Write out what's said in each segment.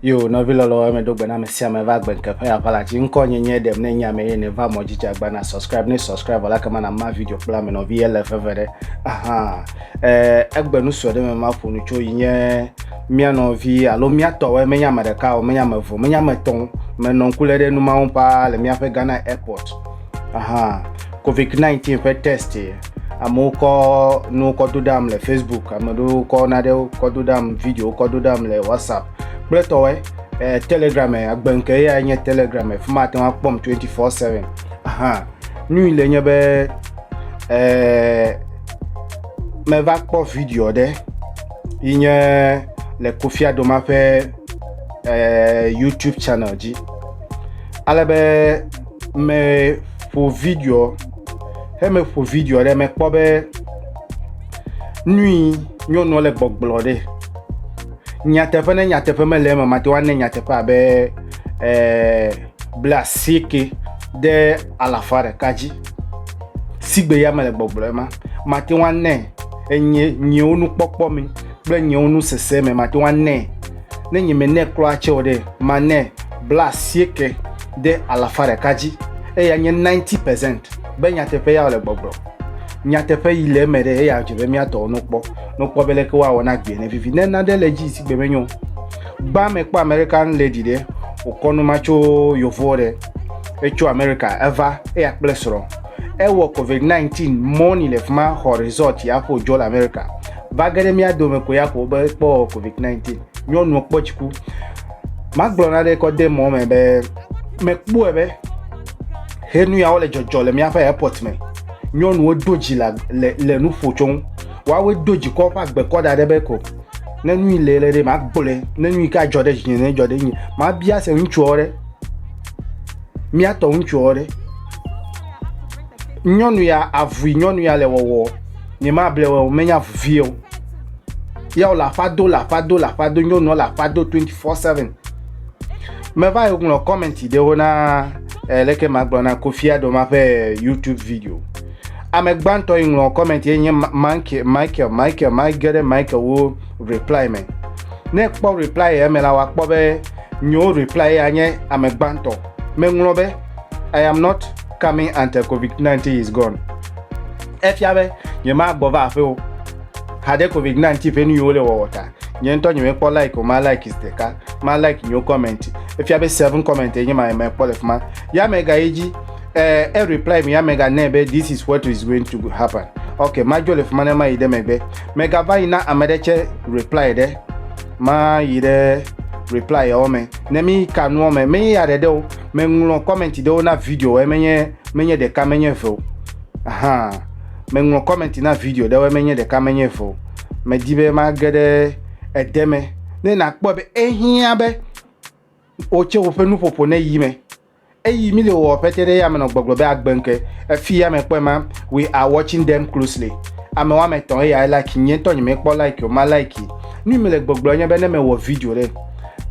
yo nɔvi lɔlɔ eme do gbe na ame sia ame va gbe nkeƒe aʋala dzi ŋkɔ nye nye ɖem ne nye ame ye ne va mɔ dzidzi agba na subscribe ne subscribe la kema na ma video kple ame nɔvi ele veve ɖe aha egbe nu sɔ ɖe me ma ƒo nu tso yi nye mía nɔvi alo mía tɔwoe menye ame ɖeka o menye ame eve menye ame etɔ̃ menɔ ŋku lé ɖe nu mawo paa le míaƒe ghana airport aha covid 19 ƒe test amewo kɔ nuwo kɔ do ɖam le facebook ame ɖewo kɔ naɖewo kɔ do ɖam videowo kɔ do ɖam le whatsapp kple tɔwoe eh, telegram eh, agbenke ya nye telegram eh, fi ma ate ŋu akpɔm 24/7 aha nu yi le nye be eh, meva kpɔ video ɖe yi nye le Kofi Adoma ƒe eh, YouTube channel dzi. Ale be meƒo video, he meƒo video ɖe mekpɔ be nui nyɔnua le gbɔgblɔ ɖe. Nyateƒe ne nyateƒe mele eme mate ŋu ane nyateƒe abe eh, ble asieke ɖe alafa ɖeka dzi. Sigbe ya mele gbɔgblɔ ema mate ŋu ane enye nyewo nukpɔkpɔ me kple nyewo nusese me mate ŋu anɛ. Ne nyemenɛ kura tsɛ o ɖe, manɛ bla asieke ɖe alafa ɖeka dzi, eya nye ninety percent be nyateƒe ya wòle gbɔgblɔm. Nyateƒe yi le eme ɖe, eya dze be mía tɔwo nokpɔ, nokpɔ be leke woawɔ na agbee nevivi. Ne nane le edzi sigbe menyo o, gbã mekpɔ American lady ɖe, wòkɔ nu ma tso Yevuwo ɖe, etso Amerika, eva, eya kple srɔ̃. Ewɔ COVID-19 mɔni le fima xɔ resort ya xo jɔ le America. Va ge ɖe mía dome ko ya ko be kpɔ COVID-19. Nyɔnua kpɔ dziku. Magblɔ na ɖe kɔ de mɔ me be mekpɔe be he nu yawo le dzɔdzɔ le míaƒe airport me. Nyɔnuwo do dzi le, le, le nu ƒo tso ŋu. Woawoe do dzi kɔ ƒe agbe kɔ da ɖe be ko ne nu yi le le ɖe magblɔe ne nu yi ke adzɔ ɖe dzinye ne dzɔ ɖe nye mabia se ŋutsuawo ɖe Mía tɔ ŋutsuɔ ɖe? Nyɔnu ya, avui nyɔnu ya le wɔwɔ, nyemable wɔ o, menye avu vie o. Ya wòle aƒa do, le aƒa do, le aƒa do, nyɔnuɔ le aƒa do 24/7. Meva yi ŋlɔ comment ɖewo na eh, leke magblɔ na Kofi Adoma ƒe eh, YouTube video. Ame gbãtɔ yi ŋlɔ comment ye nye Michael, Michael, Michael, mage ɖe Michael wo reply me. Ne kpɔ reply eme la, wòakpɔ be Nyo reply ya nye ame gbãtɔ. Meŋlɔ be, I am not coming until Covid-19 is gone. Efia be nyemagbɔ va aƒe o haɖe Covid-19 ƒe nu yi wole wɔwɔ ta. Nye ŋutɔ nyemekpɔ like o, ma like zi ɖeka. Ma like nyo comment. Efia be seven comment ye nye ma mekpɔ le fima. Ya mega yi dzi. Eh, e reply mi ya mega nɛ be this is what is going to happen. Ok, madzo le fima ne mayi ɖe megbe. Mega va yi na ame ɖe tsɛ reply ɖe. ma yi ɖe reply yawo me ne mi ka nuwo me me ya ɖeɖe o me ŋlɔ comment ɖewo na video e menye menye ɖeka menye ve o aha me ŋlɔ comment na video ɖewo e menye ɖeka menye ve o me di be ma ge ɖe ede me ne na kpɔ be ehiã be o tse o ƒe nuƒoƒo ne yi me Eyi mi le wɔwɔ ƒete ɖe yame nɔ gbɔgblɔ be agbe ŋke. Efi yame kpɔe ma, we are watching them closely. Ame wɔme etɔ̃ eya e like nye ŋtɔ nye me kpɔ like o ma like yi. Nui mi le gbɔgblɔ nye be ne me wɔ video ɖe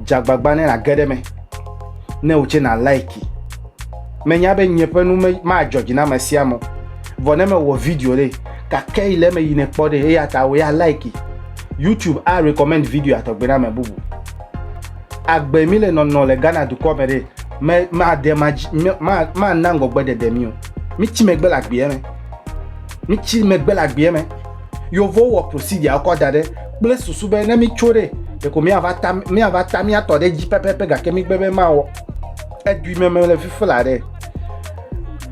dze agbagba ne na ge ɖe me ne o tse na like yi. Me nya be nye ƒe nu me ma dzɔ dzi na ame sia ame o. Vɔ ne me wɔ video ɖe gake yi le eme yi ne kpɔ ɖe eya ta we are like yi. YouTube a recommend video ya tɔgbe na ame bubu. agbe mi le nɔnɔ le Ghana dukɔ me ɖe me maɖe mana ŋgɔgbe ɖeɖe mi o mitsi megbe le agbeɛ me mitsi megbe le agbeɛ me yovo wɔ procedure kɔ da ɖe kple susu be ne mitso ɖe ɖeko miava ta miava ta miatɔ ɖe dzi pɛpɛpɛ gake migbe be mawɔ edui meme le fifi la ɖe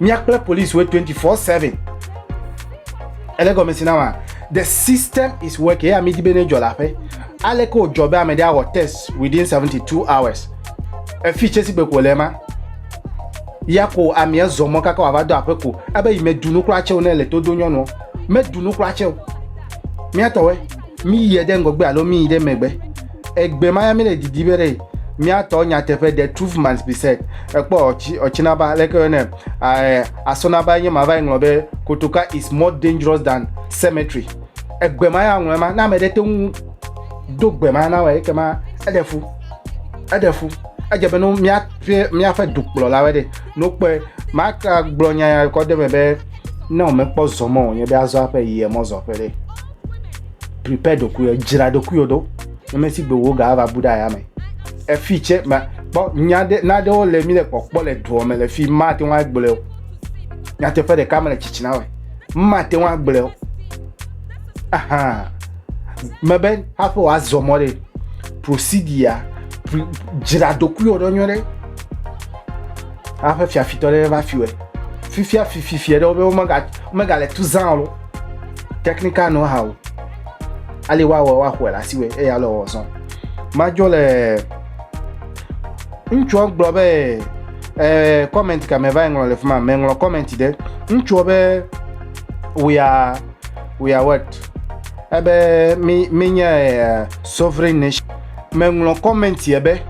Mia kple police we 24/7. Ele gɔme si na ma. The system is working. Ya mi di be ne jɔ la pe. Ale ko jɔ be ame de awɔ test within 72 hours. E fi chesi be ko le ma. Ya ko ami e zɔ mɔ kaka wa va do ape ko. Ebe yi me dunu kura cheo ne le to do nyɔnu. Me dunu kura cheo. Mia tɔwe. Mi yi de ngɔgbe alo mi yi de megbe. egbe ma ya mi le didi be ɖe miatɔ nyateƒe the truth must be said ekpɔ ɔtsi ɔtsinaba leke yɔ nɛ ɛɛ asɔnaba nye ma va yi ŋlɔ be kotoka is more dangerous than cemetery egbe ma ya ŋlɔ ma na ame ɖe te ŋu do gbe ma na wɔ eke ma eɖe fu eɖe fu edze be no miaƒe miaƒe dukplɔlawo ɖe no kpɔe maka gblɔ nya ya kɔ de me be ne wòmekpɔ zɔ mɔ wònye be azɔ aƒe yi emɔ zɔ ƒe ɖe prepare ɖokuiwò, dzra ɖokuiwò ɖo, nemɛsigbe wò ga ava bu ɖe aya me. Efi tse, ma, kpɔ, nya ɖe, na ɖewo le mi le kpɔkpɔ le duɔ me le fi, ma te ŋu agblɔe o. Nyateƒe ɖeka me le tsitsina me. Ma te ŋu agblɔe o. Ahan. Me be, haƒe wòa zɔ mɔ ɖe, prosidia, dzra ɖokuiwò ɖo nyuie ɖe. Haƒe fiafitɔ ɖe va fiwɛ. Fifia fififiɛ ɖewo be, womega, womega le tu zã o. technical know how ale woawɔ woaxɔe le asiwɔe eye ale wɔ zɔn madzɔ le ŋutsua gblɔ be ɛɛ comment kame va ŋlɔ le fi ma meŋlɔ comment ɖe ŋutsua be we are we are what ebe mi mi nye eh, sovereign nation meŋlɔ comment yɛ be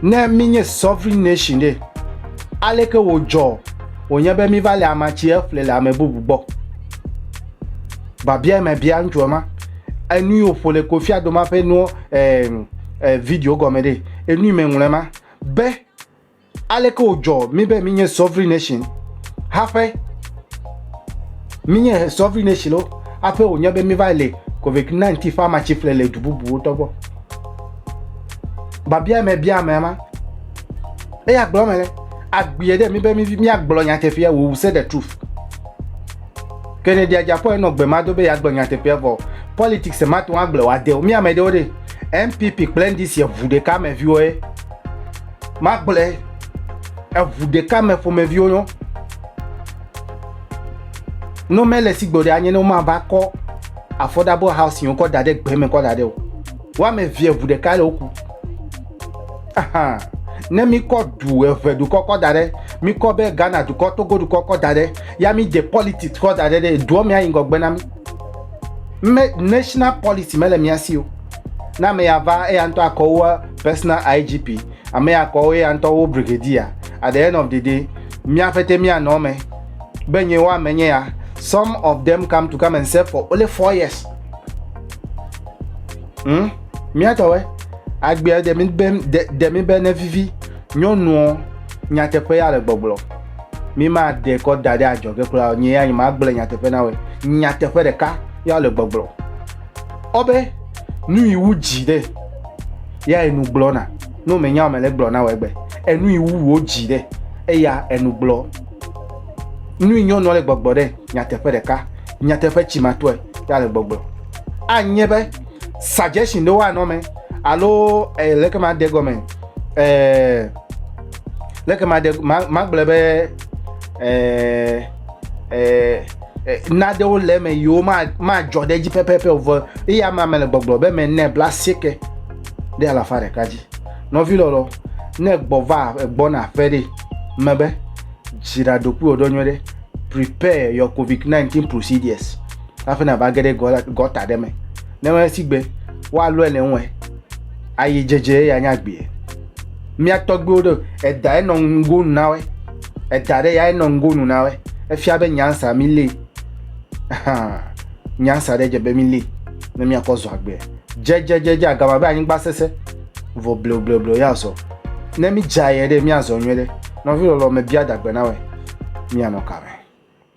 ne mi nye sovereign nation ɖe aleke wòdzɔ wònye be míva le ama tsi eƒle le ame bubu gbɔ. Babia me bia ŋutsua ma, enu yi wòƒo le kofia doma ƒe nuwo eh, eh, video gɔme ɖe, enu yi me ŋlɔe ma, be aleke wòdzɔ mí be mínye sovereign nation haƒe, mínye sovereign nation lo haƒe wònye be míva le COVID-19 ƒe ama tsi ƒle le du bubuwo tɔ gbɔ. Babia me bia ame ma. Eya gblɔ me le agbie ɖe mi be míagblɔ nyateƒea wò se the truth. Kennedy Agyapɔ enɔ gbe ma do be yeagblɔ nyateƒea vɔ. Politics mate ŋu agblɔ wòade o. Mi ame ɖewo ɖe NPP kple NDC eŋu ɖeka me viwo ye. Magblɔe eŋu ɖeka me ƒomeviwo yɔ. Ne mele sigbo ɖe anye ne womava kɔ affordable housing kɔ da ɖe gbe me kɔ da ɖe o. Woame evie eŋu ɖeka le woku. Ahan. Ne mikɔ du eve dukɔ kɔ da ɖe, mikɔ be Ghana dukɔ, Togo dukɔ kɔ da ɖe, ya midze politics kɔ da ɖe ɖe, duɔ mea yi ŋgɔgbe na mi. Me, national policy mele mia si o. Na ame ya va, eya ŋutɔ akɔ wo personal IGP, ame ya akɔ wo eya ŋutɔ wo brigadier. At the end of the day, mia fete mia nɔ me. Be nye wa me nye ya. Some of them come to come and serve for only four years. Hmm? Míatɔwɛ, agbea ɖe mi be ɖe mi be nevivi nyɔnuɔ nyateƒe ya le gbɔgblɔ. Mi ma de kɔ da ɖe adzɔge kura o. Nye ya nye ma gblɔ nyateƒe na wɛ. Nyateƒe ɖeka ya le gbɔgblɔ. Ɔbe nu yi wu dzi ɖe ya enu gblɔ na. No me nya me le gblɔ na wɛ gbe. Enu yi wu wo dzi ɖe eya enu gblɔ. Nu yi nyɔnua le gbɔgblɔ ɖe nyateƒe ɖeka. Nyateƒe tsi ma tɔe ya le gbɔgblɔ. Anye be suggestion ɖewo anɔ me alo eh, leke ma de gɔme eh, leke ma de ma ma gblɔ be eh, eh, eh, naɖewo le eme yiwo ma ma dzɔ ɖe edzi pɛpɛpɛ o vɔ eya ma me le gbɔgblɔ be me ne bla sieke ɖe alafa ɖeka dzi nɔvi lɔlɔ ne gbɔ va gbɔna aƒe ɖe me be dzra ɖokuiwò ɖo nyuie ɖe prepare your covid-19 procedures hafi nava ge ɖe gɔta ɖe me ne esi gbe woalɔe le ŋue ayi dzedze eye anya gbee mía tɔgbiwo ɖo eda enɔ ŋgo nu na woe eda ɖe ya enɔ ŋgo nu na woe efia be nyansa mi li nyansa ɖe dze be mi li ne miakɔ zɔ agbe dzedzedzedze agama be anyigba sese vɔ bleubleublew ya zɔ ne mi dza yɛ ɖe miazɔ nyuie ɖe nɔvi lɔlɔ me bia dagbe na woe mianɔ kame